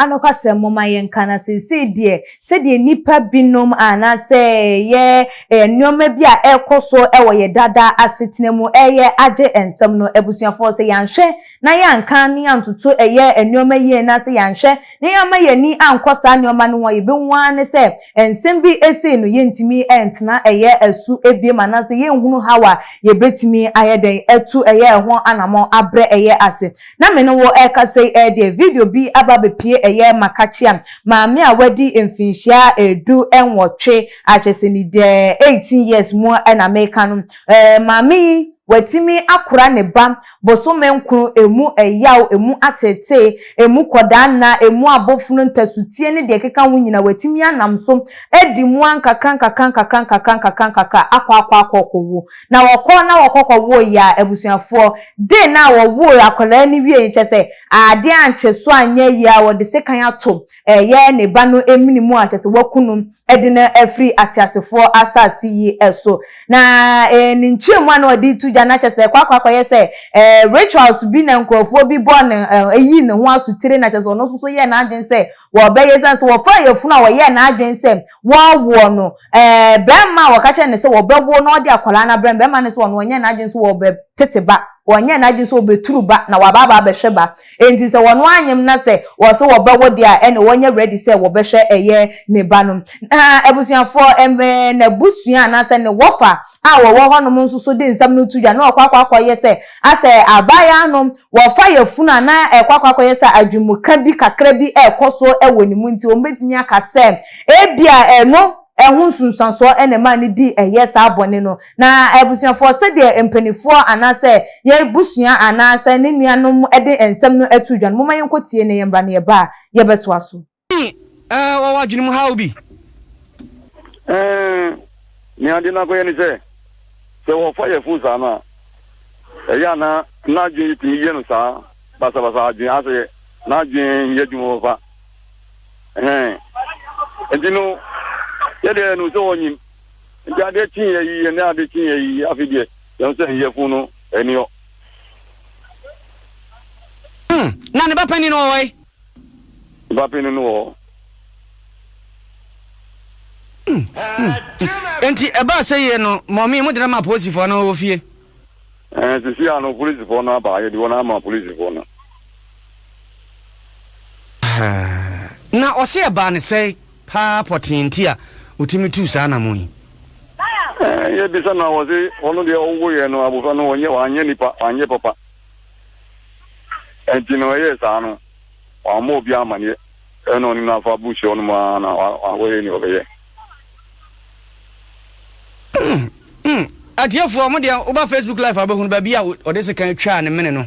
Anokwasɛm, momma yɛnka na seesei deɛ, sɛdeɛ nnipa binom anaasɛ yɛ nneɛma bi a ɛrekɔ so wɔ yɛ dada asetena mu reyɛ agye nsɛm no, abusuafoɔ, sɛ yɛanhwɛ na yɛanka ne antoto ɛyɛ nneɛma yie na sɛ yɛanhwɛ na yɛamma yɛn ani ankɔ saa nneɛma no ho a, yɛbɛhu ara ne sɛ nsɛm bi sei no yɛntumi ntena ɛyɛ asu biom anaasɛ yɛnhunu haw a yɛbɛtumi ayɛ dɛn atu ɛyɛ ɛho anammɔn abrɛ ɛyɛ ase. Na me ne wo rekasa yi deɛ video bi aba abɛpue ɛyɛ makakyia maame a wadi mfinhyia du nwɔtwe a kyerɛ sɛ ni deɛ eighteen years mu na meka no. Ɛɛ maame yi watumi akora ne ba bosome nkron, emu ɛyaw, emu ateetee, emu kɔdaa nna, emu abofono, ntasuteɛ ne deɛ ɛkeka ho nyina watumi anam so adi mua nkakrankakra nkakra nkakra nkakra nkakra akɔ akɔ akɔ ɔkɔ wuo. Na wɔkɔ na wɔkɔ kɔ woo yɛ a abusuafoɔ de na a wɔwoo akwadaa no wiee no kyɛ sɛ adeɛ ankyɛ so anyɛ yie a wɔde sekan ato ɛyɛ ne ba no emene mu a kyɛ sɛ waku no de no afiri ateasefoɔ asase yi so. Na eh, ne nkyerɛmu a na ɔde to dwa no akyɛ sɛ ɛkɔ akɔ akɔyɛ sɛ eh, rituals bi na nkurɔfoɔ bi bɔ ne eh, eyi ne ho asotire na kyɛ sɛ ɔno nso so yɛɛ n'adwene sɛ wɔbɛyɛ esiane sɛ wɔfaa yafunu a wɔyɛɛ n'adwene sɛ wɔawoɔ no eh, barima a wɔka kyerɛ ne sɛ wɔbɛwo na ɔde akwadaa no abrɛ no barima no sɛ ɔno ɔnyɛɛ n'adwene sɛ wɔbɛtete ba ɔnyɛɛ n'adwene sɛ ɔbɛturu ba na wabaabaa bɛhwɛ ba Enti sɛ wɔn anyem na sɛ wɔse wɔbɛwo deɛ a ɛne wɔnyɛ ready sɛ wɔbɛhwɛ ɛyɛ ne ba no. Na abusuafoɔ, ɛmɛɛ, n'abusua anaasɛ ne wɔfa a wɔwɔ hɔ nom nso so de nsɛm no to dwa na wɔkɔ akɔakɔ yɛ sɛ asɛ abaayaa no wɔfa yafunu anaa ɛkɔ akɔakɔ yɛ sɛ adwenmuka bi kakra bi ɛrekɔ so wɔ ne mu nti wɔn bɛtumi aka sɛ ɛbia ɛno ɛho nsunsuansoɔ na ɛmaa no dii ɛyɛ saa bɔne no. Na abusuafoɔ, sɛdeɛ mpaninfoɔ anaasɛ yɛn busua anaasɛ ne nuanom de nsɛm no ato dwa no, momma yɛnkɔ tie na yɛmmra na yɛba a, yɛbɛtoa so. Ɛɛ, wɔwɔ adwene mu haw bi. Ɛɛ, nea ade no akɔyɛ ne sɛ, sɛ wɔfa yɛn fon saa no a, ɛyɛ a na n'adwene yi tumi yɛ no saa basabasa adwene asɛ n'adwene nyɛ adwuma papa. Ɛhɛn. Nti no, yɛdeɛ yɛnim sɛ ɔnyim. Nti adeɛ kyeeɛ yi, ɛnɛ adeɛ kyeeɛ yi, afei deɛ yɛn sɛ yɛfun no ɛni hɔ. Hmm, na ne ba panin no wɔ hɔ yi? Ne ba panin no wɔ hɔ. Hmm, hmm. Nti ɛbaa sɛ yie no, mɔmi mo de no ma apolisifoɔ no wɔ fie. Ɛɛ sisi ano polisifoɔ no aba yɛde wɔn ama polisifoɔ no. Na ɔse ɛbaa ne sɛe paa pɔtee nti a ɔtumi tuu saa anamɔn yi. Ɛɛ yɛbisa no a wɔse ɔno deɛ ɔwo yɛ no abofra no wɔnyɛ wanyɛ nipa wanyɛ papa ɛnti no ɛyɛ saa no wɔn ama obi amaneɛ ɛna ɔne no afa buhyɛ ɔno mu ara na wɔyɛ ni ɔbɛyɛ. Atiefoɔ ɔmo deɛ woba Facebook live a wobɛhunu baabi a ɔde sekan twaa ne mene no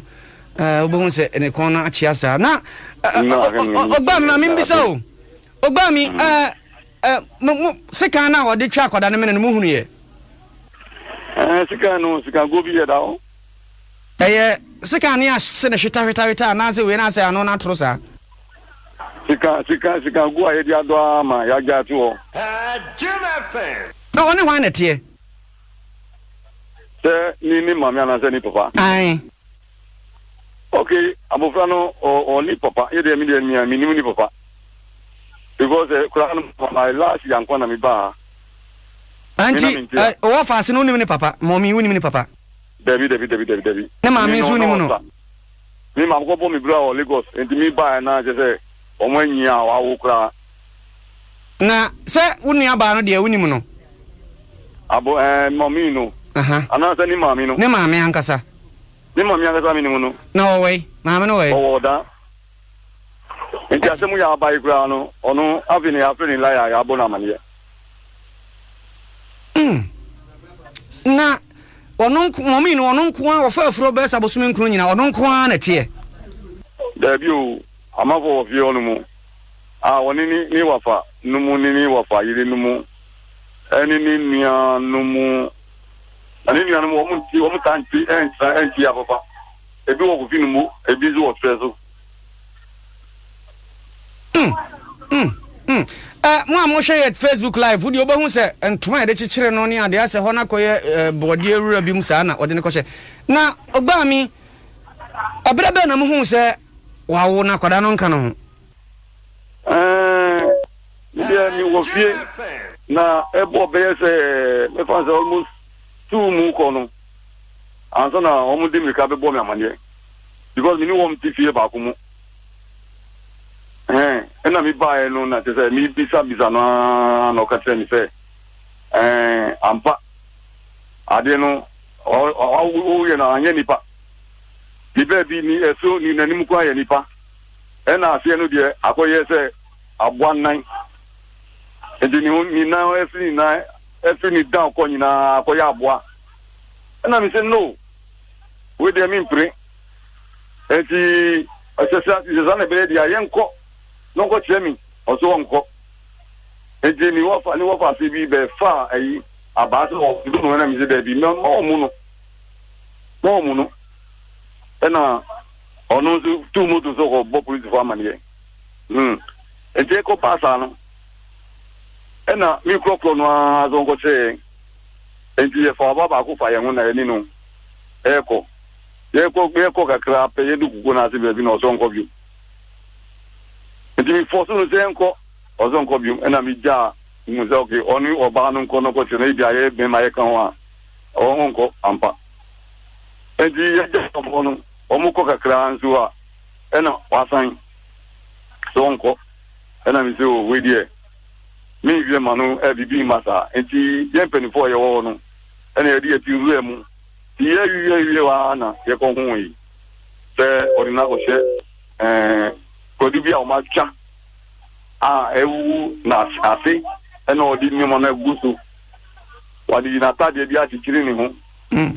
wobɛhu sɛ ne kɔn no akyea saa na ɔgbaa me ma membisa o ɔgbaa me sekan no a ɔde twa akwadaa ne mene no mohunu yɛ sekan no sikago bi yɛ da hɔ Ɛyɛ sika a ne ase no hwetahwetahweta anaasɛ wei no asɛ ano no atoro saa? Sika, sika, sika gu a yɛde adɔ ara ma yɛagyae ato hɔ. Na ɔne hwan na ɛteɛ? Sɛ ne ne maame anaasɛ ne papa? Ae. Ok, abofra no ɔ, ɔne papa. Yɛ deɛ me deɛ mea menim ne papa. Because eh, koraa no my last year nko na mebaa ha. Anti, eh, ɔwɔ faase no wonim ne papa? Mɔmi, wonim ne papa? Dabi dabi dabi dabi dabi. Ne maame nso nim no. Me maame kɔ bɔ me bira wɔ Lagos nti mi ba yɛ na kyɛ sɛ wɔn anyi a wawo koraa. Na sɛ wo nua baa no deɛ wonim no. Abo ɛɛ eh, mami no. Anaasɛ ne maame no. Ne maame ankasa. Ne maame ankasa mi nim no. Na ɔwɔ yi maame no wɔ yi. Ɔwɔ ɔda. Nti asɛm yi a aba yi koraa no, ɔno afei na yɛafrɛ no Elia a yɛabɔ no amaneɛ. Mm. Na ɔno nko, wɔn mmienu ɔno nko ara ɔfa afuro bɛsa abosome nkron nyinaa ɔno nko ara na ɛteɛ. Daabi o, amanfoɔ wɔ fie hɔnom a wɔne ne ne wafa nom ne ne wafa yere nom ɛne ne nua nom na ne nua nom wɔn nti wɔn taa nti ɛntra ɛnti yɛ papa. Ebi wɔ kofi no mu, ebi nso wɔ serɛ so. Mm, mm, mm. Eh, mo a mohwɛ yɛ Facebook live, wodeɛ wobɛhu sɛ ntoma a yɛde kyekyere no ne adeɛ asɛ hɔ no akɔyɛ eh, bɔɔdeɛ wura bi mu saa na ɔde no kɔhyɛ. Na ɔbaa mi, ɛberɛ bɛn na mohuu sɛ wawo na akwadaa no nka no ho? Eh, medeɛ mewɔ fie na ɛbɔ bɛyɛ sɛ mɛfa sɛ almost two mu kɔ no. Ansa na wɔn de mmirika bɛbɔ me amaneɛ because me ne wɔn te fie baako mu ɛhɛn ɛna me baeɛ no na kyɛ sɛ me bisa bisa no ara na ɔka kyerɛ me sɛ ɛɛn ampa adeɛ no ɔyɛ no anyɛ nipa ne baabi ne ɛso ne n'anim kwan yɛ nipa ɛna aseɛ no deɛ akɔyɛ sɛ aboa nnan nti ne ho ne nan ɛso nyinaa Ɛfiri ne down kɔ nyinaa akɔyɛ aboa. Ɛna me se no wei deɛ mempire. Ɛnti ɔsɛ sa sɛ sa na ɛbɛyɛ deɛ a yɛnkɔ na ɔnkɔ kyerɛ me ɔso ɔnkɔ. Ɛnti ne wɔfa ne wɔfa ase bi bɛ fa ayi abaa sɛ ɔmo no ɛna me se daabi mɛ ma ɔmo no ma ɔmo no. Ɛna ɔno nso tu moto so kɔ bɔ polisifo amaneɛ. Hmm. Ɛnti ɛkɔ paa saa no. Ɛnna me korɔkorɔ no ara so nkɔkyerɛɛ yɛn. Enti yɛfaa ɔbaa baako faa yɛn ho na yɛne no rekɔ. Yɛrekɔ yɛrekɔ kakra pɛ, yɛdu kukow no ase baabi na ɔsɛ ɔnkɔ bio. Enti mefɔɔso no sɛ nkɔ, ɔsɛ ɔnkɔ bio. Ɛnna migyaa mu sɛ ok, ɔne ɔbaa no nkɔ na ɔkɔkyerɛ no, ebia yɛyɛ bɛn ma yɛka ho a, ɔnkɔ ampa. Enti yɛgyaa wɔn no, wɔkɔ kakra nso a, ɛnna wasan sɛ ɔnkɔ. Ɛna me se, oh, wei deɛ, me nhwɛ ma no, eh, biribi mma saa. Enti yɛn mpanyinfoɔ a yɛwɔ hɔ no na yɛde yɛn ti wuraa mu. Ti yɛawiwiawiwie hɔ ara na yɛkɔ hoee sɛ ɔde no akɔhyɛ, eh, kwadu bi a wɔatwa a awuwu na ase ɛna ɔde nneɛma no agu so. Wɔde n'atadeɛ bi akyekyere ne ho. Mm.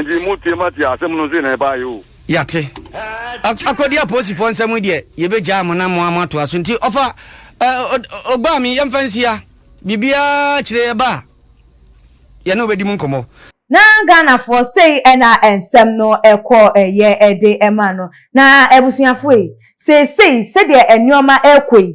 nti mo tie ma tie asɛm no sɛ na ɛbaayɛ o yɛate akɔdi apolisifoɔ nsɛm deɛ yɛbɛgyaa mo na mo ama atoa so nti ɔfa ɔgbaa me yɛmfa nsia biribiaa kyerɛ yɛba a yɛne wobɛdi mu nkɔmmɔ na ghanafoɔ sei ɛna nsɛm no ɛkɔ ɛyɛ ɛde ɛma no na abusuafoɔ yi seesei sɛdeɛ nneɛma ɛkɔ yi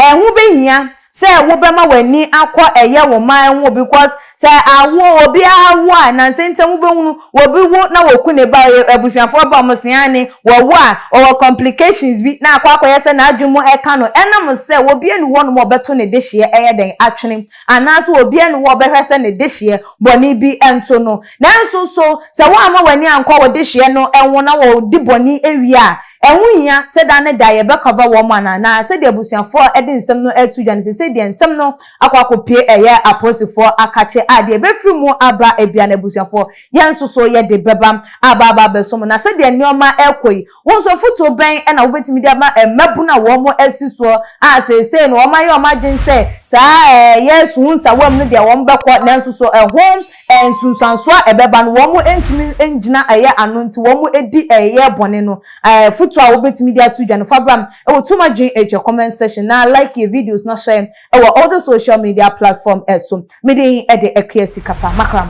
ɛho bɛhia sɛ wobɛma w'ani akɔ ɛyɛ wo man ho because sɛ awo obiara wo a nansa ntam wobɛhunu obi wo na wɔku ne ba abusuafoɔ ba wɔn se ane wɔwo a ɔwɔ complications bi na akɔ akɔyɛ sɛ n'adwene mu ɛka no ɛnam sɛ obi ani hɔ nom a ɔbɛto ne dehyeɛ ɛyɛ dɛn atwene anaasɛ obi ani hɔ a ɔbɛhwɛ sɛ ne dehyeɛ bɔne bi nto no nanso so sɛ woamma w'ani ankɔ wo dehyeɛ no ho na wɔdi bɔne wie a Ɛho nhia sɛ da ne da yɛbɛ cover wɔn anaa? Na sɛdeɛ abusuafoɔ ɛde nsɛm no ɛreto dwa no seisei deɛ nsɛm no akɔ akɔpue ɛyɛ apolisifoɔ akakye a deɛ ɛbɛfiri mu aba ɛbia no abusuafoɔ yɛn nso so yɛde bɛba aba aba abɛso mo. Na sɛdeɛ nneɛma ɛrekɔ yi wo nso afotuo bɛn ɛna wobɛtumi de ama mmabunu a wɔn asi soɔ a seisei no wɔn ayɛ wɔn adwene sɛ saa ɛyɛ suhunsawa mu no deɛ wɔn bɛkɔ nanso so ɛho nsunsuansoɔ a ɛbɛba no, wɔntumi ngyina ɛyɛ ano nti wɔdi ɛyɛ bɔne no. Afutuo a wobɛtumi de ato dwa no, fa bra wɔ Too Much Gin Asia comment section na like yɛn videos na share yɛn wɔ all the social media platform so. Me din de Akua Sikapa. Makram.